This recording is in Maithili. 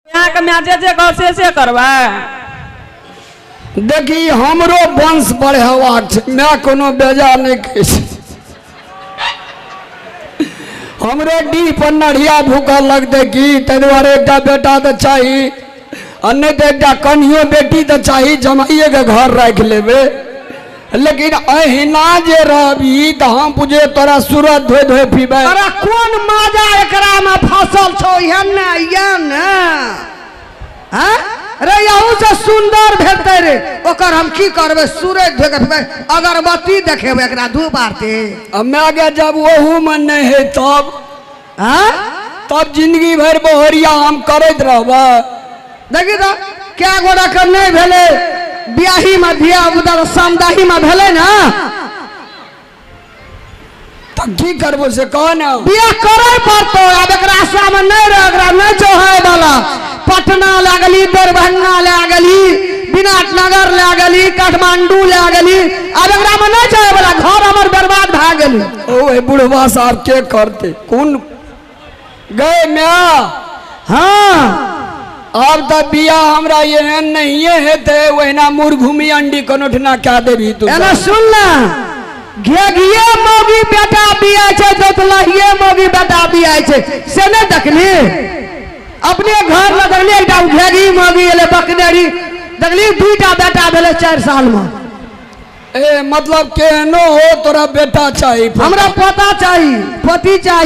अहाँके माय जे जे कहब से से करबै देखी हमरो वंश बढ़ेबाक छै माय कोनो बेजा नहि कहै छै हमरो डीह पर नढ़िया भूखल लगतै की ताहि दुआरे एकटा बेटा तऽ चाही आ नहि तऽ एकटा कनियो बेटी तऽ चाही जमाइएके घर राखि लेबै लेकिन अहिना जे रहबी तऽ हम बुझे तोरा सूरज धोए धोए पीबै अरे कोन मजा एकरा में फसल छौ इहे ने इहे ने हैं? रे यहू से सुंदर भेटते रे ओकर हम की करबे सूरज धोए के पीबै अगरबत्ती देखेबै एकरा धूप आरती हमे आगे जब ओहू में नहीं है तब आय तब जिंदगी भर बहरिया हम करैत रहब देखी तो क्या गोरा कर नहीं भेले ब्याही में धिया उधर सामदाही में भेले ना तो की करबो से कह ना बियाह करे पड़तो अब एकरा आशा में नहीं रह एकरा नहीं जोहे वाला पटना ले गेली दरभंगा ले गेली विराट नगर ले गेली काठमांडू ले गेली अब एकरा में नहीं जोहे वाला घर हमर बर्बाद भए गेली ओहे बुढ़वा साहब के करते कौन गए म्या हाँ अब तो बिया हमरा ये नहीं है ते वहना मुर घूमी अंडी कनोठना क्या देवी तू एना सुन ना घेघिए मौगी बेटा बिया छै तो तलहिए मौगी बेटा बिया छै से ने देखली अपने घर में देखली एकटा घेघी मौगी एले बकनेरी देखली दुईटा बेटा भेले चारि साल में ए मतलब केहनो हो तोरा बेटा चाही हमरा पता चाही पति चाही